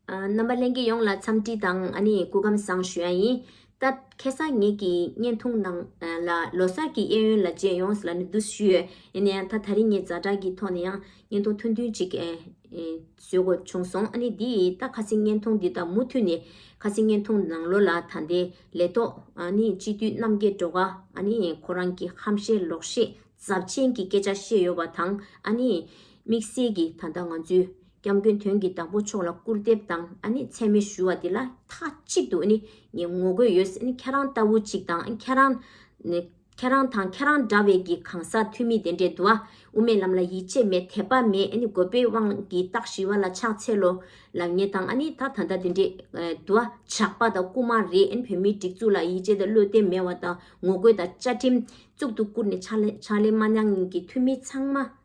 རྣམ་པ་ལྷན་རྒྱས་ཡོངས་ལ་འཚམས་འདྲི་དང་གོ་སྐབས་བཟང་ཞུ་ཡ་ཡིན། སྐབས་ཁེ་བཟང་ངེད་ཀྱི་བརྙན་ཐུང་ནང་ལ་ལོ་སར་གྱི་གཡས་གཡོན་ལ་རྗེས་ཡོངས་ལ་ནི་བསྡུ་ཞུ་ཡོད། ཡིན་ན་ཡང་ད་ད་རིང་ངས་རྫ་དྲག་གི་ཐོག་ནས་ཡང་བརྙན་ཐུང་ཐུང་ཐུང་ཅིག་བཟོས་དགོས་བྱུང་སོང། ཨ་ནི་འདིས་ད་ཁ་སིང་བརྙན་ཐུང་འདི་དག་མུ་མཐུད་ནས་ཁ་སིང་བརྙན་ཐུང་ནང་ལོ་ལ་ད་ལྟའི་ལས་ཐོག་ནི་སྤྱི་འཐུས་རྣམ་རྒྱལ་འགྲོ་ཀ་ཨ་ནི་ཁོ་རང་གི་ཧམ་བཤད་ལོག་བཤད་རྫབ་ཆེན་གྱི་སྐད་ཆ་བཤད་ཡོད་པ་དང་ཨ་ནི་དམིགས་བསལ་གྱི་ད་ད་ང་ཚོའི། སྐྱབས་མགོན་དོན་གྱི་བདག་པོ་མཆོག་ལ་སྐུར་འདེབས་དང་མཚན་སྨོད་ཞུ་བ་འདི་ལ་མཐའ་གཅིག་ཏུ་ངས་ངོ་རྒོལ་ཡོད་སྲིད། ཁྱེད་རང་ལྟ་བུ་ཅིག་དང་ཁྱེད་རང་དང་ཁྱེད་རང་འདྲ་བའི་གི་གང་ཟག་འཐུས་མི་དེ་འདྲས་འདུག་ཨ། དབུ་མའི་ལམ་ལ་ཡིད་ཆེས་མེད་དད་པ་མེད་རྒོད་པོའི་དབང་གིས་སྟག་ཞི་བ་ལ་ཕྱག་འཚལ་ལོ། ལ་ངས་དང་ཨ་ནི་ད་ད་ལྟ་དེ་འདྲས་འདུག་ཨ། ཇག་པ་དང་རྐུ་མ་རེད་བོད་མིའི་སྒྲིག་འཛུགས་ལ་ཡིད་ཆེས་དང་བློས་གཏད་མེད་བ་དང་ངོ་རྒོལ་དང་བཅའ་ཁྲིམས་གཙུག་ཏུ་བཀུར་ནས་ཕྱག་ལས་མ་གནང་མཁན་གྱི་འཐུས་མི་ཚང་མ་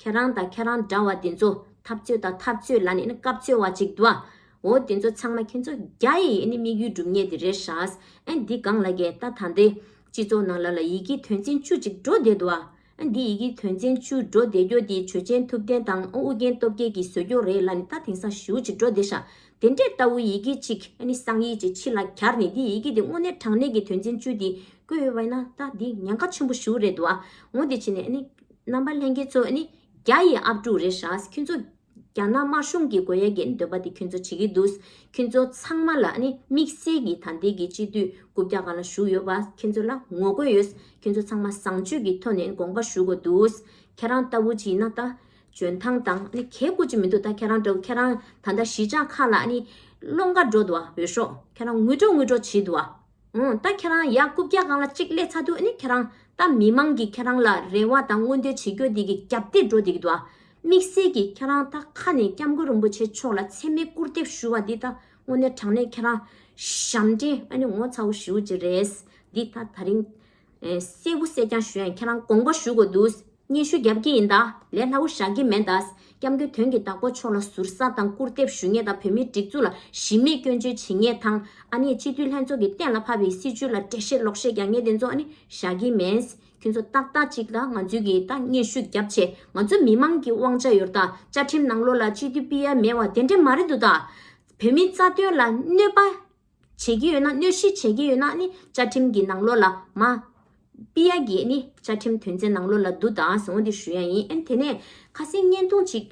ཁྱེད་རང་དང་ཁྱེད་རང་འདྲ་བ་དེ་ཚོ་འཐབ་རྩོད་དང་འཐབ་རྩོད་ལ་ནི་སྐབས་འཚོལ་བ་ཅིག་འདུག་ཨོ་དེ་ཚོ་ཚང་མ་ཁྱེད་ཚོ་རྒྱ་ཡི་ཨེ་ནི་དམིགས་ཡུལ་སྒྲུབ་ཉེས་དེ་རེད་ཧྲཱས་ཨེ་འདི་གང་ལ་རྒྱལ་རྟ་ད་འདི་སྤྱི་ཚོགས་ནང་ལ་ལ་ཡི་གེ་དོན་ཚན་བཅུ་ཅིག་འགྲོ་བསྡད་འདུག་ཨ་འདི་ཡི་གེ་དོན་ཚན་བཅུ་འགྲོ་བསྡད་རྒྱོ་དེ་ཆོས་ཅན་ཐུབ་བསྟན་དང་ཨོ་ཨུ་རྒྱན་སྟོབས་རྒྱལ་གྱི་ཟོལ་རྒྱོ་རེད་ལ་ནི་ད་དེང་སང་ཞུ་ཅིག་འགྲོ་བསྡད་ཤག་དེ་འདྲས་ལྟ་བུ་ཡི་གེ་ཅིག་ཨེ་ནི་གསང་ཡིག་ཅིག་ཕྱི་ལ་གྱར་ནི་འདི་ཡི་གེ་དེ་དངོས་གནས་དྲང་གནས་ཀྱི་དོན་ཚན་བཅུ་དེ་བཀོད་ཡོད་བས་ན་ད་འདི་ཉན་ཁ་ཆེན་པོ་ཞུ་རེད་འདུག་ཨོ་དེ་ཕྱི་ནས་ཨེ་ནི། རྣམ་པ་ལྷན་རྒྱས་གཙོས་ནི་རྒྱ་ཡི་ཨབ་ཕྲུག་རེད་ཤག་ཁྱོད་ཚོ། རྒྱ་ནག་དམར་གཞུང་གི་དགོས་ཡ་གྱི་འདོད་པ་དེ་ཁྱོད་ཚོ་བྱེད་ཀྱི་འདུག་ཁྱོད་ཚོ་ཚང་མ་ལ་ནི་དམིགས་བསལ་གྱི་ད་ལྟའི་གི་སྤྱི་འཐུས་དགུ་བརྒྱ་གང་ལ་ཞུགས་ཡོད་པ་ཁྱོད་ཚོ་ལ་ངོ་རྒོལ་ཡོད་ཁྱོད་ཚོ་ཚང་མ་བཟང་སྤྱོད་ཀྱི་ཐོག་ནས་དགོངས་པ་ཞུ་དགོས་འདུག་ཁྱེད་རང་ལྟ་བུ་ཅིག་ན་ད་འཇོན་ཐང་དང་ནི་གལ་དགོས་ཅིག་མི་འདུག་ད་ཁྱེད་རང་འདྲ་བོ་ཁྱེད་རང་ད་ད་གཞིས་ཆགས་ཁག་ལ་ནི་བློ་འགའ་འགྲོ་དུ་བ་འོས་ཤོག་ཁྱེད་རང་ངུས་འགྲོ་ངུས་འགྲོ་བྱེད་དུ་བ། འོ་ད་ཁྱེད་རང་ཡག་རྐུབ་བཀྱག་གང་ལ་གཅིག་སླེ་ཚ་དུས་ནི་ཁྱེད་རང་ད་མི་མང་གི་ཁྱེད་རང་ལ་རེ་བ་དང་མངོན་འདོད་བྱེད་རྒྱོ་དེ་གི་རྒྱབ་སྟེག་འགྲོ་དེ་གི་འདུག་དམིགས་བསལ་གི་ཁྱེད་རང་ད་ཁ་ནས་སྐྱབས་མགོན་རིན་པོ་ཆེ་མཆོག་ལ་ཚེ་མེད་སྐུར་འདེབས་ཞུ་བ་འདི་ད་དངོས་གནས་དྲང་གནས་ཁྱེད་རང་ཞབས་འདྲེན་ཨ་ནི་ངོ་ཚ་བོ་ཞུ་བྱེད་རེད་འདི་ད་ད་རིང། སྲས་བུ་སྲས་ཀྱང་གཞོན་ཁྱེད་རང་དགོངས་པ་ཞུ་དགོས་འདུག་སྙན་ཞུ་བརྒྱབ་ཀྱི་ཡིན་ད་ལས་སླ་བོ་བཞག་གི་མེད་ད་སྐྱབས་མགོན་དོན་གྱི་བདག་པོ་མཆོག་ལ་ཟུར་ཟ་དང་སྐུར་འདེབས་ཞུ་ངེས་ད་བོད་མིའི་སྒྲིག་འཛུགས་ལ་གཞི་མེད་སྐྱོན་བརྗོད་བྱེད་ངེས་དང་ཨ་ནེ་སྤྱི་འཐུས་ལྷན་ཚོགས་ཀྱི་གཏན་ལ་ཕབ་པའི་སྲིད་བྱུས་ལ་འགྲེལ་བཤད་ལོག་བཤད་རྒྱག་ངེས་དེ་ཚོ་ནི་བཞག་གི་མེད། ཁྱོད་ཚོ་ཏག་ཏག་ཅིག་ད་ང་ཚོའི་གིས་ད་སྙན་ཞུ་བརྒྱབ་ཆེད་ང་ཚོ་མི་མང་གི་དབང་ཆ་ཡོར་ད་བཅའ་ཁྲིམས་ནང་ལོག་ལ་སྤྱི་འཐུས་སྤི་ཡ་མེད་བ་དེ་འདྲ་མ་རེད་འདུག་ད་བོད་མིའི་རྩ་དོན་ལ་གནོད་པ། བྱེད་ཀྱི་ཡོད་ན་གནོད་གཞི་བྱེད་ཀྱི་ཡོད་ན་ནི་བཅའ་ཁྲིམས་ཀྱི་ནང་ལོགས་ལ་མ། པི་ཡ་གིས་ནི་བཅའ་ཁྲིམས་དོན་ཚན་ནང་ལོགས་ལ་བསྡུ་དང་ཟེར་བ་འདི་ཞུ་ཡ་ཡིན་ཨན་དེ་ནས་ཁ་གསལ་བརྙན་ཐུང་གཅིག།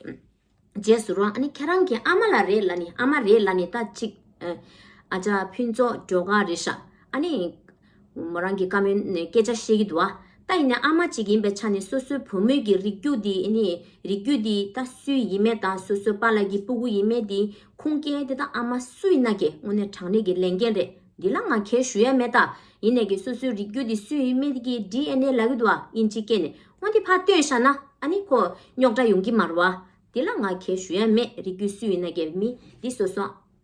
རྗེས་སུ་རོ་ཨ་ནི་ཁྱེད་རང་གི་ཨ་མ་ལ་རེད་ལ་ནི་ཨ་མ་རེད་ལ་ནི་ད་གཅིག། ཨ་ཅག་ཕུན་ཚོགས་སྒྲོལ་དགའ་རེད་ཤག་ཨ་ནི། མོ་རང་གིས་བཀའ་མོལ་ནས་སྐད་ཆ་བཤད་ཀྱི་འདུག་ཨ། ད་ཡིན་ནའི་ཨ་མ་གཅིག་ཡིན་པའི་ཆ་ནས་སོ་སོའི་བུ་མོས་ཀྱི་རིགས་རྒྱུད་དེ་ནི་རིགས་རྒྱུད་དེ་ད་སུའི་ཡིན་མེད་དང་སོ་སོའི་པ་ལགས་ཀྱི་སྤུ་གུ་ཡིན་མེད་དེ་ཁུངས་སྐྱེལ་དེ་ད་ཨ་མ་སུ་ཡིན་ན་གི་དངོས་གནས་དྲང་གནས་ཀྱི་ལས་འགན་རེད་འདི་ལ་ང་ཁེལ་ཞུ་ཡས་མེད་ད་ཡིན་ནའི་གི་སོ་སོའི་རིགས་རྒྱུད་དེ་སུའི་ཡིན་མེད་ཀྱི DNA ལག་གི་འདུག་ཨ་དབྱིན་ཇི་སྐད་ནས་དངོས་དེ་ཕ་བཏོན་བཞག་ན་ཨ་ནི་ཁོ་རྙོག་དྲ་ཡོང་གི་མ་རུ་ཨ། དེ་ལ་ང་ཁེལ་ཞུ་ཡས་མེད་རིགས་རྒྱུད་སུའི་ཡིན་ན་གི་མི་འདི་སོ་སོ་ཨ།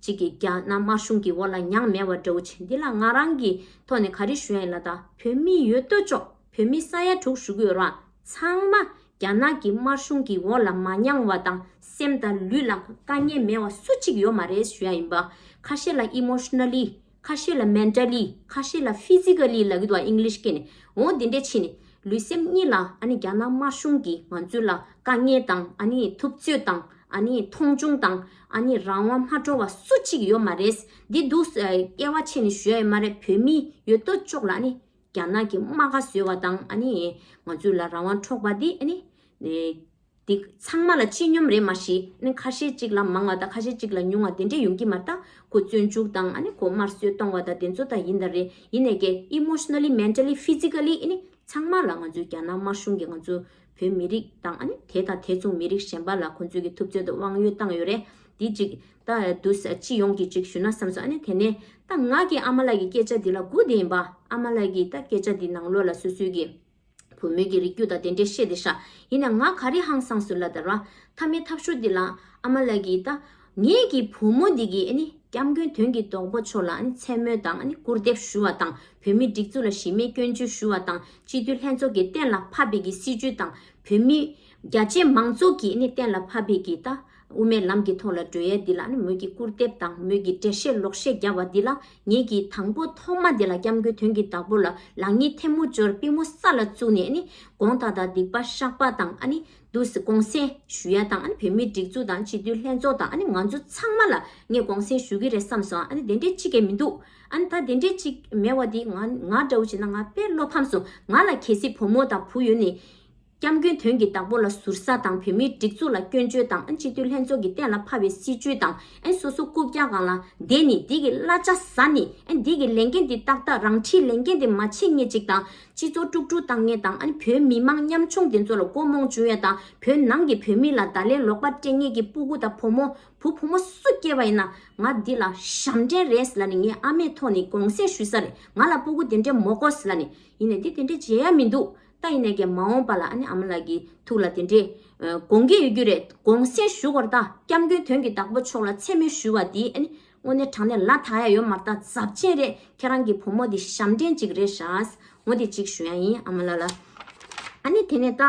གཅིག་གིས་རྒྱ་ནག་དམར་གཞུང་གི་འོག་ལ་མྱངས་མེད་བ་འདྲ་བོ་བྱེད་འདི་ལ་ང་རང་གི་ཐོག་ནས་ག་རེ་ཞུ་ཡ་ཡིན་ལ་ད་བོད་མི་ཡོད་ལྟོས་ཆོག་བོད་མི་ས་ཡ་དྲུག་ཞུ་གི་ཡོད་རང་ཚང་མ་རྒྱ་ནག་གི་དམར་གཞུང་གི་འོག་ལ་མ་མྱངས་བ་དང་སེམས་དང་ལུས་ལ་དཀའ་ངལ་མེད་བ་སུ་གཅིག་ཡོད་མ་རེད་ཞུ་ཡ་ཡིན་པ་ཁ་ཤས་ལ emotionally ཁ་ཤས་ལ Mentally ཁ་ཤས་ལ Physically ལ་གི་དུ་བ English སྐད་ནས་འོང་དེ་འདྲས་ཕྱིན་ནས་ལུས་སེམས་གཉིས་ལ་ཨ་ནི་རྒྱ་ནག་དམར་གཞུང་གི་ང་ཚོའི་ལ་དཀའ་ངལ་དང་ཨ་ནི་ཐུབ་ཚོད་དང་ཨ་ནི་མཐོང་ཆུང་དང་ཨ་ནི་རང་དབང་མ་སྤྲོ་བ་སུ་གཅིག་ཡོད་མ་རེད་འདི་འདུག་སྐལ་བ་ཆེ་ནི་ཞུ་ཡ་ཡོད་མ་རེད་བོད་མི་ཡོད་དོ་ཅོག་ལ་ཨ་ནི་རྒྱ་ནག་གི་དམག་ཁ་བཟོས་བ་དང་ཨ་ནི་ང་ཚོའི་ལ་རང་དབང་འཕྲོག་པ་འདི་ཨ་ནི། འདི་ཚང་མ་ལ་སྤྱི་སྙོམས་རེད་མ་གཞི་ནས་ཁ་ཤས་གཅིག་ལ་མང་བ་དང་ཁ་ཤས་གཅིག་ལ་ཉུང་བ་དེ་འདྲས་ཡོང་གི་མ་རྟག་གོ་བཙོན་འཇུག་དང་ཨ་ནི་གོ་དམར་གསོད་གཏོང་བ་དང་དེ་ཚོ་དག་ཡིན་དང་རེད་ཡིན་ནས་ཀྱེ Emotionally Mentally Physically ཨི་ནི་ཚང་མ་ལ་ང་ཚོའི་རྒྱ་ནག་དམར་གཞུང་གི་ང་ཚོ་བོད་མི་རིགས་དང་ཨ་ནི་དེ་དང་དེ་མཚུངས་མི་རིགས་གཞན་པ་ལ་ཁོ་ཚོས་ཀྱི་ཐུབ་ཚོད་དང་དབང་ཡོད་བཏང་ཡོད་རེད་འདི་ཅིག་ད་དུ་སྤྱི་ཡོངས་ཀྱི་ཅིག་ཞུ་ན་བསམ་སོང་ཨ་ནི་དེ་ནས་ད་ང་གི་ཨ་མ་ལགས་ཀྱི་སྐད་ཆ་འདི་ལ་སྒུག་བསྡད་ཡིན་པ་ཨ་མ་ལགས་ཀྱི་ད་སྐད་ཆ་འདི་ནང་ལོགས་ལ་སོ་སོའི་ཀྱི། བུ་མོས་ཀྱི་རིགས་རྒྱུད་དང་དེ་འདྲས་བཤད་དེ་ཤག་ཡིན་ན་ང་ག་རེ་ཧང་སངས་སུ་ལ་དར་བ། ཐ་མའི་ཐབས་ཤོར་འདི་ལ་ཨ་མ་ལགས་ཀྱིས་ད་ངེད་ཀྱི་བུ་མོ་འདི་གི་སྐྱབས་མགོན་དོན་གྱི་རྡོག་པོ་མཆོག་ལ་མཚན་སྨོད་དང་སྐུར་འདེབས་ཞུ་བ་དང་བོད་མི་སྒྲིག་འཛུགས་ལ་གཞི་མེད་སྐྱོན་བརྗོད་ཞུ་བ་དང་སྤྱི་འཐུས་ལྷན་ཚོགས་ཀྱི་གཏན་ལ་ཕབ་པའི་གི་སྲིད་བྱུས་དང་བོད་མི་རྒྱ་ཆེ་མང་ཚོགས་ཀྱི་གཏན་ལ་ཕབ་པའི་གི་ད། དབུ་མའི་ལམ་གྱི་ཐོག་ལ་བགྲོས་ཡས་འདི་ལ་ནི་མོད་ཀྱི་སྐུར་འདེབས་དང་མོད་ཀྱི་འགྲེལ་བཤད་ལོག་བཤད་རྒྱབ་བ་འདི་ལ་ངེད་ཀྱིས་དང་པོ་ཐོག་མ་འདི་ལ་སྐྱབས་མགོན་དོན་གྱི་བདག་པོ་ལ་ལག་གཉིས་ཐལ་མོ་སྦྱོར་པི་མོ་ས་ལ་བཙུགས་ནས་ནི་དགོངས་དག་དང་སྡིག་པ་བཤགས་པ་དང་ནི་དུ་གོང་གསན་ཞུ་ཡ་དང་ནི་བོད་མིའི་སྒྲིག་འཛུགས་དང་སྤྱི་འཐུས་ལྷན་ཚོགས་དང་ནི་ང་ཚོ་ཚང་མ་ལ་ངས་གོང་གསན་ཞུ་གི་རེད་བསམས་སོང་ཨ་ནི་དེ་འདྲའི་གཅིག་གི་མི་འདུག་ཨ་ནི་ད་དེ་འདྲའི་གཅིག་མེད་བ་འདི་ང་ང་འདྲ་བོ་བྱས་ན་ང་དཔེ་བློ་ཕམ་སོང་ང་ལ་གལ་སྲིད་བུ་མོ་དང་བུ་ཡོད་ནི། སྐྱབས་མགོན་དོན་གྱི་བདག་པོ་ལ་ཟུར་ཟ་དང་བོད་མིའི་སྒྲིག་འཛུགས་ལ་སྐྱོན་བརྗོད་དང་ཨན་སྤྱི་འཐུས་ལྷན་ཚོགས་ཀྱི་གཏན་ལ་ཕབ་པའི་སྲིད་བྱུས་དང་ཨན་སོ་སོ་རྐུབ་བཀྱག་གང་ལ་བསྡད་ནི་འདི་གི་གླ་ཆ་ཟ་ནི་ཨན་འདི་གི་ལས་འགན་འདི་ཏག་ཏག་རང་འཁྲིའི་ལས་འགན་འདི་མ་བྱེད་ངེས་ཅིག་དང་སྤྱི་ཚོགས་དཀྲུག་དཀྲུག་བཏང་ངེས་དང་ཨན་བོད་མི་མང་ཉམ་ཆུང་འདི་ཚོ་ལ་མགོ་རྨོངས་བྱུང་ཡ་དང་བོད་ནང་གི་བོད་མི་ལ་བརྡ་ལན་ལོག་པ་སྤྲད་ངེས་ཀྱི་སྤུ་གུ་དང་བུ་མོ་བུ་བུ་མོ་སུ་སྐྱེས་པ་ཡིན་ན་ང་འདི་ལ་ཞབས་འདྲེན་རེད་ལ་ནི་ངའི་ཨ་མའི་ཐོག་ནི་དགོངས་སེལ་ཞུས་ས་རེད་ང་ལ་སྤུ་གུ་དེ་འདྲས་མོ་དགོས་ལ་ནི་ཡིན་ནས་འདི་དེ་འདྲས་བྱེད་ཡ་མི་འདུག་ད་ཡིན་ནས་ཀྱང་མ་འོངས་པ་ལ་ཨ་ནེ་ཨ་མ་ལགས་ཀྱི་ཐུགས་ལ་དེ་འདྲའི་དགོངས་འགལ་ཡོད་རྒྱུ་རེད་དགོངས་སེལ་ཞུ་དགོས་ར་ད་སྐྱབས་མགོན་དོན་གྱི་བདག་པོ་མཆོག་ལ་མཚན་སྨོད་ཞུ་བ་དེ་ཨ་ནེ་དངོས་གནས་དྲང་གནས་ལ་དྭགས་ཡ་ཡོད་མ་རྟ་རྫབ་ཆེན་རེད་ཁྱེད་རང་གྱི་བུ་མོ་དེ་ཞབས་འདྲེན་ཅིག་རེད་ཤགས་ངོ་དེ་གཅིག་ཞུ་ཡ་ཡིན་ཨ་མ་ལགས་ལ་ཨ་ནེ་དེ་ནས་ད་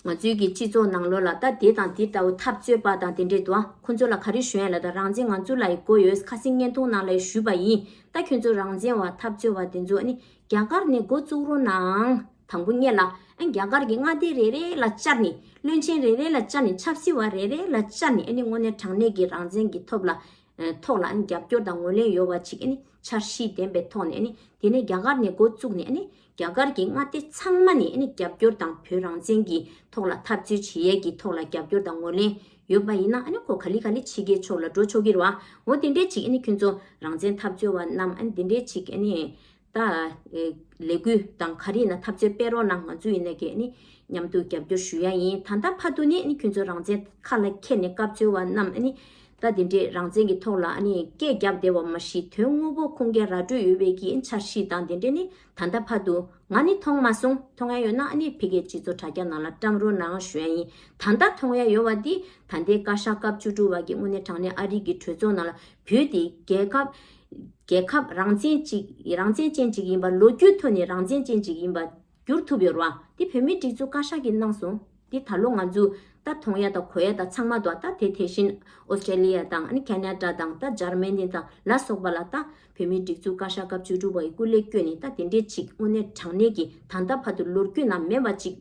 ང་ཚོའི་གྱི་སྤྱི་ཚོགས་ནང་ལོ་ལ་ད་དེ་དང་དེ་ལྟ་བུ་འཐབ་རྩོད་པ་དང་དེ་འདྲའི་དུ་ཨ་ཁོ་ཚོ་ལ་ག་རེ་ཞུ་ཡ་ལ་ད་རང་བཙན་ང་ཚོ་ལ་ཡི་དགོས་ཡོད་ཁ་སིང་བརྙན་ཐུང་ནང་ལ་ཡི་ཞུས་པ་ཡིན་ད་ཁྱོད་ཚོ་རང་བཙན་བ་འཐབ་རྩོད་བ་དེ་ཚོ་ཨ་ནེ་རྒྱ་གར་ནས་འགོ་བཙུགས་རོགས་གནང། དང་པོ་གཉེར་ལ། རྒྱ་གར་གྱི་མངའ་སྡེ་རེ་རེ་ལ་བཅར་ནས། བློན་ཆེན་རེ་རེ་ལ་བཅར་ནས་ཆབ་སྲིད་བ་རེ་རེ་ལ་བཅར་ནས་དངོས་གནས་དྲང་གནས་ཀྱི་རང་བཙན་གྱི་ཐོབ་ལ། ཐོག་ལ་རྒྱབ་སྐྱོར་དང་ངོས་ལེན་ཡོད་བ་ཅིག་འཆར་གཞི་ལྡན་པའི་ཐོག་ནས་དེ་ནས་རྒྱ་གར་ནས་འགོ་བཙུགས་ནས་རྒྱ་གར་གྱི་མངའ་སྡེ་ཚང་མ་ནས་རྒྱབ་སྐྱོར་དང་བོད་རང་བཙན་གྱི་ཐོག་ལ་འཐབ་རྩོད་བྱེད་ཡས་ཀྱི་ཐོག་ལ་རྒྱབ་སྐྱོར་དང་ངོས་ལེན་ཡོད་པ་ཡིན་ན་ཁོ་ག་ལི་ག་ལི་ཕྱི་རྒྱལ་ཕྱོགས་ལ་འགྲོ་ཆོག་གིར་བ་འོ་དེ་འདྲས་ཅིག་ཁྱོད་ཚོ་རང་བཙན་འཐབ་རྩོད་བ་རྣམས་དེ་འདྲས་ཅིག་ད། ལས་འགུལ་དང་ག་རེ་ན་ཐབས་རྩོད་སྤེལ་རོགས་གནང་ང་ཚོ་ཡིན་ནས་གས་ནི་མཉམ་དུ་རྒྱབ་སྐྱོར་ཞུ་ཡ་ཡིན་ད་ད་ཕ་དུ་ནས་ནི་ཁྱོད་ཚོ་རང་བཙན་ཁ་ལ་ཁྱེར་ནས་སྐབས་འཚོལ་བ་རྣམས་ནི་ད་དེ་འདྲས་རང་བཙན་གྱི་ཐོག་ལ་ནི་སྐད་རྒྱབ་བསྡད་བ་མ་གཞི་དོན་དངོས་པོ་ཁུངས་སྐྱེལ་ར་སྤྲོད་ཡོད་བས་ཀྱི་འཆར་གཞི་དང་དེ་འདྲས་ནི་ད་ད་ཕ་དུ་ང་ནི་མཐོང་མ་སོང་མཐོང་ཡ་ཡོད་ན་ནི་ཕི་གའི་སྤྱི་ཚོགས་དྲ་རྒྱ་ནང་ལ་བཀྲམ་རོགས་གནང་ཞུ་ཡ་ཡིན་ད་ད་མཐོང་ཡ་ཡོད་བ་དེ་ད་ལྟའི་བཀའ་ཤག་སྐབས་བཅུ་དྲུག་བ་གྱི་དངོས་གནས་དྲང་གནས་ཨ་རིག་གི་གྲོས་ཚོགས་ནང་ལ་བུད་དེ་རྒྱལ་ཁབ། རྒྱལ་ཁབ་རང་བཙན་གཅིག་རང་བཙན་ཅན་གཅིག་ཡིན་པ་ལོ་རྒྱུས་ཐོག་ནས་རང་བཙན་ཅན་གཅིག་ཡིན་པ་འགྱུར་ཐུབ་ཡོད་ར་བ་འདི་བོད་མིའི་སྒྲིག་འཛུགས་བཀའ་ཤག་གིས་གནང་སོང་འདི་ད་ལོ་ང་ཚོས་ད་དོང་ཡ་དང་གོ་ཡ་དང་ཚང་མ་དང་ད་དེ་དེ་བཞིན Australia དང Canada དང་ད Germany དང་ལ་སོགས་པ་ལ་ད་བོད་མིའི་སྒྲིག་འཛུགས་བཀའ་ཤག་སྐབས་བཅུ་དྲུག་པ་ཡི་སྐུ་ལས་བསྐྱོད་ནས་ད་དེ་འདྲས་གཅིག་དངོས་གནས་དྲང་གནས་ཀྱི་ད་ད་བར་དུ་ལོ་རྒྱུས་ནང་མེད་པ་གཅིག་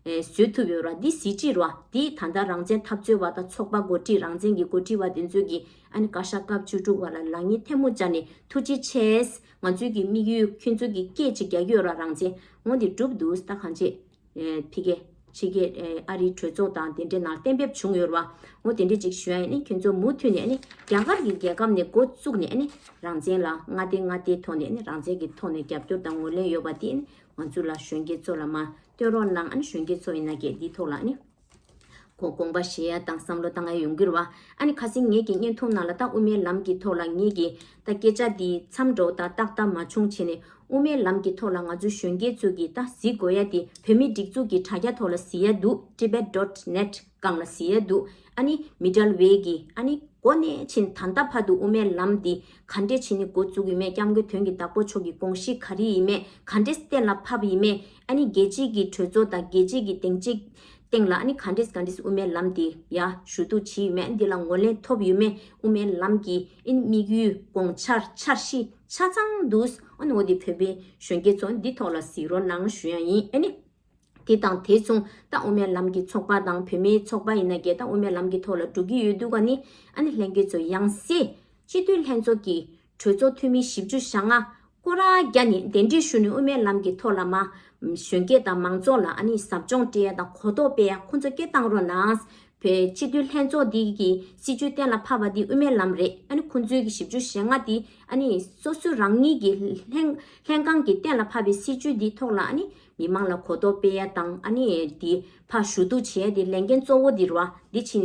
བཟོས་ཐུབ་ཡོད་ར་འདི་གཟི་བརྗིད་ར་འདི་ད་ལྟ་རང་བཙན་འཐབ་རྩོད་བ་དང་ཚོགས་པ་འགོ་ཁྲིད་རང་བཙན་གྱི་འགོ་ཁྲིད་བ་དེ་ཚོས་ཀྱི་ཨ་ནི་བཀའ་ཤག་སྐབས་བཅུ་དྲུག་བ་ལ་ལག་གཉིས་ཐལ་མོ་སྦྱར་ནས་ཐུགས་རྗེ་ཆེ། ང་ཚོས་ཀྱི་དམིགས་ཡུལ་ཁྱོད་ཚོ་གྱི་སྐད་ཅིག་རྒྱ་ཡོད་ར་རང་བཙན་དངོས་དེ་གྲུབ་འདུག་ཟླ་གང་རྗེས། ཕི་ཀེ། ཕྱི་ཀེ། ཨ་རིའི་གྲོས་ཚོགས་དང་དེ་འདྲའི་ནང་གཏན་འབེབས་བྱུང་ཡོད་ར་ངོ་དེ་འདྲའི་ཅིག་ཞུ་ཨ་ནི་ཁྱོད་ཚོ་མུ་མཐུད་ནས་ཨ་ནི་རྒྱ་གར་གྱི་རྒྱལ་ཁབ་ནས་འགོ་བཙུགས་ནས་ཨ་ནི་རང་བཙན་ལ་མངའ་སྡེ་མངའ་སྡེའི་ཐོག་ནས་ཨ་ནི་རང་བཙན་གྱི་ཐོག་ནས་རྒྱབ་སྐྱོར་དང་ངོས་ལེན་ཡོད་བ་དེ་ཨ་ནི་ང་ཚོ་ལ་གཞོན་སྐྱེས་ཚོ་ལ་མ་བསྟོད་རོགས་གནང་ཨ་ནི་གཞོན་སྐྱེས་ཚོ་ཡིན་ན་སྐད་འདིའི་ཐོག་ལ་ཨ་ནི། གོ་དགོངས་པ་བཞེས་ཡ་དང་བསམ་བློ་བཏང་ཡ་ཡོང་གིར་བ། ཨ་ནི་ཁ་སིང་ངེད་ཀྱི་བརྙན་ཐུང་ནང་ལ་ཏག་དབུ་མའི་ལམ་གྱི་ཐོག་ལ་ངེད་ཀྱི་ད་སྐད་ཆ་འདི་མཚམས་འགྲོ་ད་ཏག་ཏག་མ་བྱུང་བྱས་ནས་དབུ་མའི་ལམ་གྱི་ཐོག་ལ་ང་ཚོ་གཞོན་སྐྱེས་ཚོ་གྱིས་ད་གཟིགས་དགོས་ཡ་དེ་བོད་མི་སྒྲིག་འཛུགས་ཀྱི་དྲ་རྒྱ་ཐོག་ལ་གཟིགས་ཡ་འདུག Tibet dot net། རྐང་ལ་བཟི་ཡ་འདུག་ཨ་ནི་མི་འདྲལ་བས་ཀྱི་ཨ་ནི་སྒོ་ནས་ཕྱིན་ད་ལྟ་བར་དུ་དབུ་མའི་ལམ་འདི་ག་འདྲས་ཕྱིན་ནི་མགོ་བཙུགས་ཡི་མེད་སྐྱབས་མགོན་དོན་གྱི་བདག་པོ་མཆོག་གི་དགོངས་གཞི་ག་རི་ཡི་མེད་ག་འདྲས་གཏན་ལ་ཕབ་ཡི་མེད་ཨ་ནི་རྒྱལ་གཅེས་ཀྱི་གྲོས་ཚོགས་དང་རྒྱལ་གཅེས་ཀྱི་དེང་གཅེས་སྟེང་ལ་ཨ་ནི་ག་འདྲས་ག་འདྲས་དབུ་མའི་ལམ་འདི་ཡ་ཞུ་གཏུགས་བྱེད་ཡི་མེད་འདི་ལ་ངོ་ལེན་ཐོབ་ཡི་མེད་དབུ་མའི་ལམ་གྱི་ཨ་ནི་དམིགས་ཡུལ་དགོངས་འཆར་འཆར་གཞི་ཆ་ཚང་འདུག་ཨ་ནི་འོ་དེ་བོད་པའི་གཞོན་སྐྱེས་ཚོ་འདི་ཐོག་ལ་གཟིགས་རོགས་གནང་ཞུ་ཡང་ཡིན་ཨ་ནི། དེ་དང་དེ་མཚུངས་ཏང་དབུ་མའི་ལམ་གྱི་ཚོགས་པ་དང་བུད་མེད་ཚོགས་པ་ཡིན་ན་རྒྱལ་ཏང་དབུ་མའི་ལམ་གྱི་ཐོག་ལ་འགྲོ་གི་ཡོད་འདུག་ག་ནི་ཨ་ནི་ལྷན་རྒྱས་ཚོ་ཡང་སྲིད་སྤྱི་འཐུས་ལྷན་ཚོགས་ཀྱི་གྲོས་ཚོགས་འཐུས་མི་བཞི་བཅུ་ཞག་ལྔ་སྐོར་ར་རྒྱ་ནི་གདན་འདྲེན་ཞུ་ནས་དབུ་མའི་ལམ་གྱི་ཐོག་ལ་མ་གཞོན་སྐྱེས་དང་མང་ཚོགས་ལ་ཨ་ནི་ཟབ་སྦྱོང་སྤྲད་ཡ་དང་གོ་རྟོགས་སྤེལ་ཡ་ཁོང་ཚོ་སྐྱེ་བཏང་རོགས་གནང། བོད་སྤྱི་འཐུས་ལྷན་ཚོགས་འདི་གི་སྲིད་བྱུས་གཏན་ལ་ཕབ་པ་འདི་དབུ་མའི་ལམ་རེད་ཨ་ནི་ཁོང་ཚོའི་གི་བཞི་བཅུ་ཞེ་ལྔ་འདི་ཨ་ནི་སོ་སོ་རང་ཉིད་ཀྱི་ལྷན་ལྷན་ཁང་གི་གཏན་ལ་ཕབ་པའི་སྲིད་བྱུས་འདི་ཐོག་ལ་ཨ་ནི། མི་དམངས་ལ་གོ་རྟོགས་སྤེལ་ཡ་དང་དེ་ཕ་ཞུ་གཏུག་བྱེད་ཡ་དེ་ལས་འགན་གཙོ་བོ་དེ་རུ་དེ་ཕྱིན་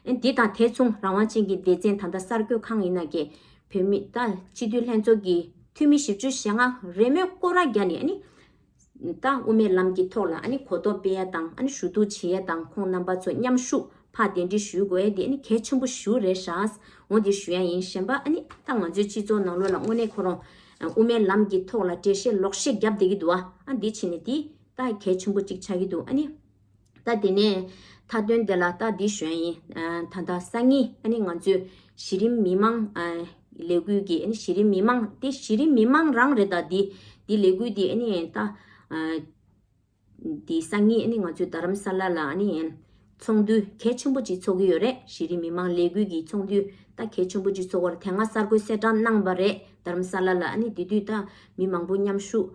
ནས་དེ་དང་དེ་མཚུངས་རང་དབང་ཅན་གྱི་སྡེ་ཚན་ད་ལྟ་གསར་འགོད་ཁང་ཡིན་ན་གྱི་བོད་མི་ད་སྤྱི་འཐུས་ལྷན་ཚོགས་ཀྱི་འཐུས་མི་བཞི་བཅུ་ཞེ་ལྔ་རེས་མོས་སྐོར་ར་རྒྱ་ནས་ད་དབུ་མའི་ལམ་གྱི་ཐོག་ལ་གོ་རྟོགས་སྤེལ་ཡ་དང་ཞུ་གཏུག་བྱེད་ཡ་དང་ཁོང་རྣམ་པ་ཚོ་མཉམ་ཞུགས་ཕ་དེ་འདྲི་ཞུས་དགོས་ཡ་དེ་གལ་ཆེན་པོ་ཞུ་རེ་ཧྲ་ངོ་དེ་ཞུ་ཡ་ཡིན་གཞན་པ་ད་ང་ཚོའི་སྤྱི་ཚོགས་ནང་ལོ་ལ་དངོས་གནས་ཁོ་རང་དབུ་མའི་ལམ་གྱི་ཐོག་ལ་འགྲེལ་བཤད་ལོག་བཤད་བརྒྱབ་བསྡད་ཀྱི་འདུག་ཨ། འདི་ཕྱི་ནས་འདི། ད་གལ་ཆེན་པོ་གཅིག་ཆགས་ཀྱི་འདུག་ཨ་ནི། ད་དེ་ནས། མཐའ་དོན་དེ་ལ་ད་འདི་གཞོན་ཡིན། ད་ལྟ་སང་ཉིན་ཨ་ནི་ང་ཚོས། གཞི་རིམ་མི་མང། ལས་འགུལ་གྱི་ཨ་ནི་གཞི་རིམ་མི་མང་དེ་གཞི་རིམ་མི་མང་རང་རེད་ད། འདི་ལས་འགུལ་འདི་ཨ་ནི་ད། འདི་སང་ཉིན་ནི་ང་ཚོའི་རྡ་རམ་ས་ལ་ལ་ཚོགས་འདུ་གལ་ཆེན་པོ་གཅིག་འཚོགས་ཀྱི་ཡོད་རེད་གཞི་རིམ་མི་དམངས་ལས་འགུལ་གྱི་ཚོགས་འདུ་ད་གལ་ཆེན་པོ་གཅིག་འཚོགས་པར་དེ་སྔ་གསར་འགོད་གསལ་བསྒྲགས་གནང་བ་རེད་རྡ་རམ་ས་ལ་ལ་དེ་དུས་ད་མི་མང་པོ་མཉམ་ཞུགས་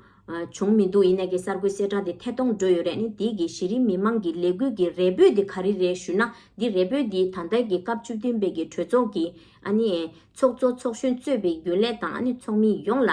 བྱུང་མི་འདུག་ཡིན་ནའི་གསར་འགོད་གསལ་བསྒྲགས་དེ་ཐད་གཏོང་འགྲོ་ཡོད་རེད་དེ་གི་གཞི་རིམ་མི་དམངས་ཀྱི་ལས་འགུལ་གྱི་རེ་འབོད་དེ་ག་རེ་རེད་ཞུས་ན་འདི་རེ་འབོད་འདི་ད་ལྟ་གི་སྐབས་བཅུ་བདུན་པའི་གི་གྲོས་ཚོགས་ཀྱི་ཚོགས་གཙོ་ཚོགས་གཞོན་གཙོས་པའི་རྒྱུན་ལས་དང་ཚོགས་མི་ཡོངས་ལ་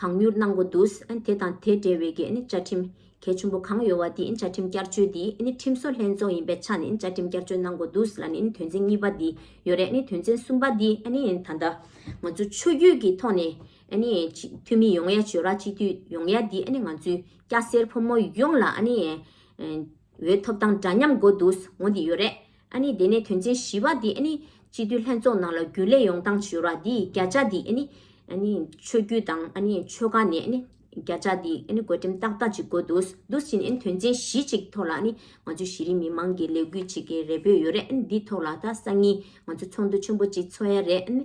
གང་མྱུར་གནང་དགོས་འདུག་དེ་དང་དེ་འབྲེལ་བའི་གནས་བཅའ་ཁྲིམས་གལ་ཆུང་པོ་གང་ཡོད་བ་དེ་བཅའ་ཁྲིམས་བསྐྱར་བཅོས་དེ་ཁྲིམས་བཟོ་ལྷན་ཚོགས་ཡིན་པའི་ཆ་ནས་བཅའ་ཁྲིམས་བསྐྱར་བཅོས་གནང་དགོས་འདུག་ལ་ནི་དོན་ཚན་གཉིས་པ་དེ་ཡོད་རེད་དོན་ཚན་གསུམ་པ་དེ་ད་ལྟ་ང་ཚོ་ཆོས་བརྒྱུད་ཀྱི་ཐོག་ནས་འཐུས་མི་ཡོངས་ཡ་བཅོས་ར་སྤྱི་འཐུས་ཡོངས་ཡ་དེ་ང་ཚོའི་སྐྱ་སེར་ཕོ་མོ་ཡོངས་ལ་འོས་ཐོབ་དང་འདྲ་མཉམ་དགོས་འདུག་འོ་དེ་ཡོད་རེད། ཨ་ནི་དེ་ནས་དོན་ཚན་བཞི་བ་འདི་ཨ་ནི། སྤྱི་འཐུས་ལྷན་ཚོགས་ནང་ལ་རྒྱུན་ལས་ཡོང་སྟངས་བྱོས་ར་འདི་བརྒྱ་ཆ་འདི་ཨ་ནི། ཨ་ནི། ཆོས་བརྒྱུད་དང་ཨ་ནི་ཆོལ་ཁ་ནས་ཨ་ནི། བརྒྱ་ཆ་འདི་ཨ་ནི་བཀོད་འགྲེམས་ཏག་ཏག་ཅིག་དགོས་འདུག་འདུག་ཕྱིན་ཨ་ནི་དོན་ཚན་བཞི་ཅིག་ཐོག་ལ་ཨ་ནི། ང་ཚོའི་གཞི་རིམ་མི་མང་གི་ལས་འགུལ་བྱེད་མཁན་རེ་འབོད་ཡོད་རེད་ཨ་ནི་འདི་ཐོག་ལ་ད་སང་ཉིན་ང་ཚོ་ཚོགས་འདུ་ཆེན་པོ་ཅིག་ཚོགས་ཡ་རེད་ཨ་ནི།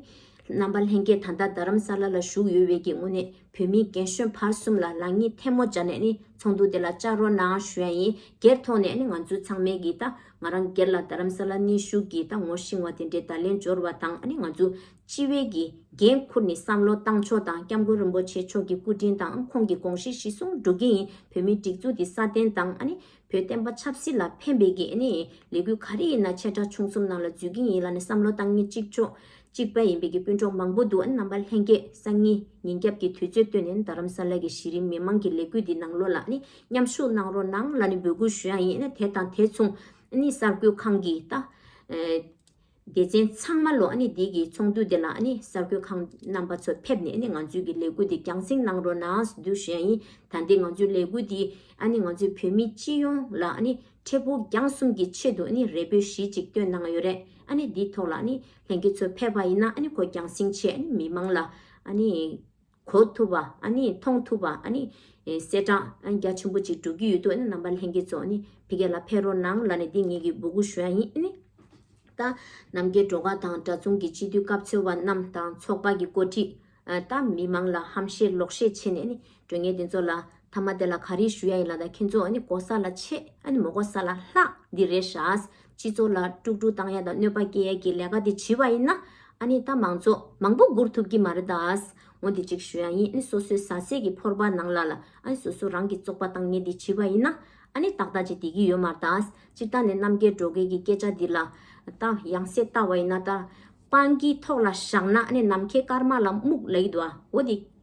རྣམ་པ་ལྷན་རྒྱས་ད་ལྟ་རྡ་རམ་ས་ལ་ལ་བཞུགས་ཡོད་བས་ཀྱི་དངོས་གནས་བོད་མི་རྒན་གཞོན་བར་གསུམ་ལ་ལག་གཉིས་ཐལ་མོ་སྦྱར་ནས་ཨ་ནི་ཚོགས་འདུ་དེ་ལ་བཅར་རོགས་གནང་ཞུ་ཡ་ཡིན་སྒེར་ཐོག་ནས་ཨ་ནི་ང་ཚོའི་ཚང་མས་ཀྱི་ད་ང་རང་སྒེར་ལ་རྡ་རམ་ས་ལ་གནས་བཞུགས་ཀྱིས་ད་ངོ་ཤིང་བ་དེ་འདྲའི་བརྡ་ལན་འབྱོར་བ་དང་ཨ་ནི་ང་ཚོ་སྤྱི་བའི་གི་འགན་འཁུར་ནི་བསམ་བློ་བཏང་ཆོག་དང་སྐྱབས་མགོན་རིན་པོ་ཆེ་མཆོག་གི་སྐུ་དྲིན་དང་ཁོང་གི་དགོངས་བཞེད་གཞི་སྲུང་འགྲོ་གི་ཡིན་བོད་མིའི་སྒྲིག་འཛུགས་ཀྱི་སྲ་བརྟན་དང་ཨ་ནི་བོད་བསྟན་པ་ཆབ་སྲིད་ལ་ཕན་པའི་གི་ཨ་ནི་ལས་འགུལ་ག་རེ་ཡིན་ན་ཆེ་ཕྲ་ཆུང་གསུམ་ནང་ལ་འཛུལ་གི་ཡིན་ལ་ནི་བསམ་བློ་བཏང་ནི་གཅིག་ཆོག་གཅིག་པ་ཡིན་པའི་གི་སྤུན་གྲོགས་མང་པོ་འདུག་ཨ་ནི་རྣམ་པ་ལྷན་རྒྱས་སང་ཉིན་ཉིན་རྒྱབ་ཀྱི་དུས་ཚོད་སྟོན་ནས་རྡ་རམ་ས་ལ་གི་གཞི་རིམ་མི་མང་གི་ལས་འགུལ་འདི་ནང་ལོ་ལ་ཨ་ནི་མཉམ་ཞུགས་གནང་རོགས་གནང་ལ་ནི་འབོད་སྐུལ་ཞུ་ཡག་ཡིན་དེ་དང་དེ་མཚུངས་ནི་གསར་འགོད་ཁང་གི་ད་སྡེ་ཚན་ཚང་མ་ལོ་ནི་འདི་གི་ཚོགས་འདུ་འདི་ལ་ནི་གསར་འགོད་ཁང་རྣམ་པ་ཚོ་ཕེབས་ནས་ནི་ང་ཚོའི་གི་ལས་འགུལ་འདི་རྒྱང་སྲིང་གནང་རོགས་གནང་ཞུ་རྒྱུ་ཞུ་ཡག་ཡིན་ད་འདི་ང་ཚོའི་ལས་འགུལ་འདི་ནི་ང་ཚོའི་བོད་མི་སྤྱི་ཡོངས་ལ་ནི་འཕྲལ་ཕུགས་རྒྱང་གསུམ་གི་ཆེད་དུ་ནི་རེ་འབོད་གཞི་གཅིག་བཏོན་གནང་ཡོད་རེད་ནི་འདི་ཐོག་ལ་ནི་ལྷན་རྒྱས་ཚོ་ཕེབས་པ་ཡིན་ན་ནི་གོ་རྒྱང་སྲིང་ཆེད་ནི་མི་མང་ལ་ནི། གོ་ཐུབ་པ་ཨ་ནི་མཐོང་ཐུབ་པ་ཨ་ནི། གསལ་བསྒྲགས་ཨ་རྒྱ་ཆེན་པོ་གཅིག་འགྲོ་གི་ཡོད་འདུག་ཨ་ནི་རྣམ་པ་ལྷན་རྒྱས་ཚོ་ཨ་ནི་ཕི་གེ་ལ་ཕེ་རོ་ནང་ལ་ནི་འདི་ངེད་ཀྱི་འབུ་གུ་ཞོན་ཡིན་ཨ་ནི། ད། ནམ་མཁའི་འགྲོ་ཁ་དང་གྲྭ་ཚུང་གི་སྤྱི་འཐུས་སྐབས་འཚོལ་བ་རྣམས་དང་ཚོགས་པ་གི་འགོ་ཁྲིད། ད་མི་མང་ལ་ཧམ་བཤད་ལོག་བཤད་བྱེད་ནས་ཨ་ནི་དྲོད་ངན་དེ་ཚོ་ལ། ཐ་མ་དེ་ལ་ག་རེ་ཞུ་ཡ་ཡིན་ལ་ད་ཁྱེད་ཚོ་ཨ་ནི་གོ་ས་ལ་ཆེ་ཨ་ནི་མོ་གོ་ས་ལ་ལྷག་འདི་རེད་ཧྲཱི། སྤྱི་ཚོགས་ལ་དཀྲུག་དཀྲུག་བཏང་ཡ་དང་གནོད་པ་སྐྱེལ་ཡ་གི་ལས་ཀ་དེ་བྱིས་བ་ཡིན་ན། ཨ་ནི་ད་མང་ཚོགས་མང་པོ་སྒུར་ཐུབ་གི་མ་རེད་དཱ། འོ་འདི་གཅིག་ཞུ་ཡ་ཡིན་ཨ་ནི་སོ་སོའི་ཟ་ཟས་གི་ཕོར་པ་ནང་ལ་ལ་ཨ་ནི་སོ་སོ་རང་གི་བཙོག་པ་བཏང་ངེས་འདི་བྱིས་བ་ཡིན་ན། ཨ་ནི་ཏག་ཏག་ཅིག་དེ་གི་ཡོད་མ་རེད་དཱ། སྤྱིར་བཏང་ནས་གནམ་སྐས་འགྲོ་མཁན་གི་སྐད་ཆ་འདི་ལ། ད་ཡང་སེ་ལྟ་བ་ཡིན་ན་ད། སྤང་གི་ཐོག་ལ་བཞག་ན་ཨ་ནི་ནམ་མཁའི་སྐར་མ་ལ་སྨུག་ལ་ཡིད་དོ་ཨ་འོ་འདི།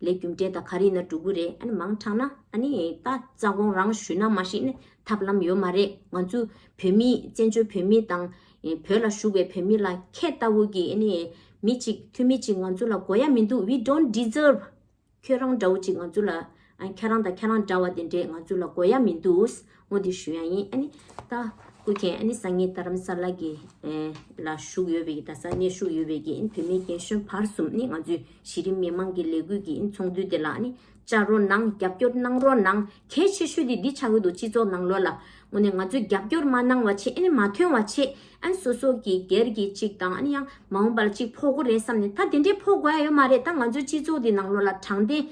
ལས་རྒྱུ་འབྲས་དང་ག་རེ་ཡིན་ན་འགྲོ་གི་རེད་ཨ་ནི་མང་དྲགས་ན་ཨ་ནི་ད་རྩ་དགོངས་རང་ཞུས་ན་མ་ཤེས་ནི་ཐབས་ལམ་ཡོད་མ་རེད་ང་ཚོ་བོད་མི་བཙན་བྱོལ་བོད་མི་དང་བོད་ལ་བཞུགས་པའི་བོད་མི་ལ་ཁྱེད་ལྟ་བུ་གི་ཨ་ནི་མི་གཅིག་འཐུས་མི་གཅིག་ང་ཚོ་ལ་དགོས་ཡ་མི་འདུག we don't deserve ཁྱོད་རང་འདྲ་བོ་གཅིག་ང་ཚོ་ལ་ཨ་ཁྱེད་རང་དང་ཁྱེད་རང་འདྲ་བ་དེ་འདྲས་ང་ཚོ་ལ་དགོས་ཡ་མི་འདུག་ངོ་བསྟོད་ཞུ་ཡང་ཡིན་ཨ་ནི། ད་སྐུ་མཁྱེན་ཨ་ནི་ས་ངེས་རྡ་རམ་ས་ལ་གི་ལ་བཞུགས་ཡོད་པའི་རྡ་སར་གནས་བཞུགས་ཡོད་པའི་གིས་བོད་མི་རྒན་གཞོན་བར་གསུམ་ནི་ང་ཚོའི་གཞི་རིམ་མི་མང་གི་ལས་འགུལ་གྱི་ཚོགས་འདུ་དེ་ལ་ཨ་ནི་བཅར་རོགས་གནང་རྒྱབ་སྐྱོར་གནང་རོགས་གནང་གལ་ཆེ་ཤོས་དེ་འདི་ཆགས་ཡོད་འདུག་སྤྱི་ཚོགས་ནང་ལོ་ལ་ངོ་ནས་ང་ཚོས་རྒྱབ་སྐྱོར་མ་གནང་བ་ཆེད་ཨ་ནི་མ་ཐོན་བ་ཆེད་ཨ་ནི་སོ་སོ་གིས་སྒེར་གྱི་གཅིག་དང་ཨ་ནི་ཡང་མ་འོངས་པ་ལ་གཅིག་ཕོག་གོ་རེད་བསམ་ནས་ད་དེ་འདྲའི་ཕོག་དགོས་ཡ་ཡོད་མ་རེད་ད་ང་ཚོའི་སྤྱི་ཚོགས་དེ་ནང་ལོ་ལ་དྲང་བདེན་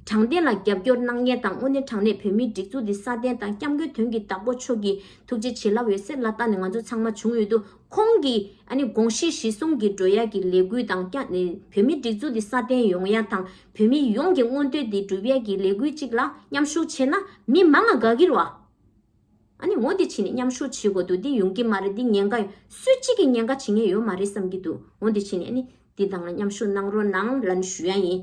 དྲང་བདེན་ལ་རྒྱབ་སྐྱོར་གནང་མཁན་དང་དངོས་གནས་དྲང་གནས་བོད་མིའི་སྒྲིག་འཛུགས་འདི་སྲ་བརྟན་དང་སྐྱབས་མགོན་དོན་གྱི་བདག་པོ་མཆོག་གིས་ཐུགས་རྗེ་ཆེ་ལབ་ཡོད་སེམས་ལ་བཏགས་ནས་ང་ཚོ་ཚང་མ་བྱུང་ཡོད་དུ་ཁོང་གི་དགོངས་གཞི་གཞི་བཟུང་གིས་འགྲོ་ཡག་གི་ལས་འགུལ་དང་བོད་མིའི་སྒྲིག་འཛུགས་འདི་སྲ་བརྟན་ཡོང་ཡག་དང་བོད་མི་ཡོངས་ཀྱི་མངོན་འདོད་འདི་འགྲུབ་ཡག་གི་ལས་འགུལ་ཅིག་ལ་མཉམ་ཞུགས་བྱས་ན་མི་མང་ང་དགའ་གིར་བ། ཨ་ནི་མོ་འདི་ཕྱིན་ནས་མཉམ་ཞུགས་བྱེད་དགོས་འདུག་འདི་ཡོང་གི་མ་རེད་འདི་ཉེན་ཁ་སུ་གཅིག་གིས་ཉེན་ཁ་བྱེད་ངེས་ཡོད་མ་རེད་བསམ་གྱི་འདུག་མོ་འདི་ཕྱིན་ནས་ཨ་ནི་འདི་དང་ལ་མཉམ་ཞུགས་གནང་རོགས་གནང་ལ་ནི་ཞུ་ཡ་ཡིན།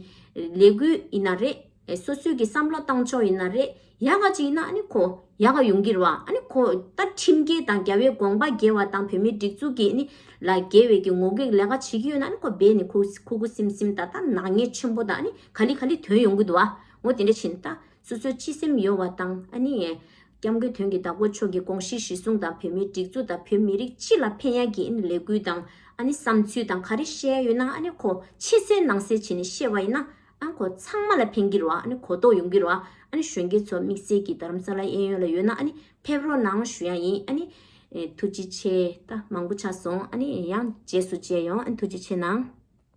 ལས་འགུལ་ཡིན་ན་རེད། སོ་སོས་ཀྱི་བསམ་བློ་བཏང་ཕྱོགས་ཡིན་ན་རེད། ཡག་ག་ཅིག་ཡིན་ན་ཨ་ནི་ཁོ་ཡག་ག་ཡོང་གི་རོ་ཨ་ནི་ཁོ་ད་ཁྲིམས་འགལ་དང་རྒྱ་བའི་དགོངས་པ་འགལ་བ་དང་བོད་མིའི་སྒྲིག་འཛུགས་ཀྱི་ཨ་ནི་ལ་འགལ་བའི་ཀྱི་ངོ་གེགས་ལས་ཀ་བྱེད་ཀྱི་ཡོད་ན་ཨ་ནི་ཁོ་རྦད་ནས་ཁུ་ཁུ་སིམ་སིམ་ད་ལྟ་ནག་ཉེས་ཆེན་པོ་དང་ཨ་ནི་ག་ལི་ག་ལི་དོན་ཡོང་གི་འདུག་ཨ་མོ་དེ་འདྲ་ཕྱིན་ད། སོ་སོའི་སྤྱི་སེམས་ཡོད་བ་དང་ཨ་ནི། སྐྱབས་མགོན་དོན་གྱི་བདག་པོ་མཆོག་གི་དགོངས་གཞི་གཞི་བཟུང་དང་བོད་མིའི་སྒྲིག་འཛུགས་དང་བོད་མི་རིགས་སྤྱི་ལ་ཕན་ཡག་གི་ཨ་ནི་ལས་འགུལ་དང་ཨ་ནི་བསམ་ཚུལ་དང་ག་རེ་བཤད་ཡོད་ན་ཨ་ནི་གོ་ཕྱི་གསལ་ནང་གསལ་བྱེད་ནས་བཤད་བ་ཡིན་ན་ཨ་གོ་ཚང་མ་ལ་ཕན་གི་རོ་ཨ་ནི་གོ་རྟོགས་ཡོང་གི་རོ་ཨ་ནི་གཞོན་སྐྱེས་ཚོ་དམིགས་བསལ་གྱི་དརམ་ས་ལ་གཡས་གཡོན་ལ་ཡོད་ན་ཨ་ནི་ཕེབས་རོགས་གནང་ཞུ་ཡག་ཡིན་ཨ་ནི། ཐུགས་རྗེ་ཆེ་ད་མང་པོ་ཆགས་སོང་ཨ་ནི་ཡང་རྗེས་སུ་མཇལ་ཡོང་ཨ་ནི་ཐུགས་རྗེ་ཆེ་གནང།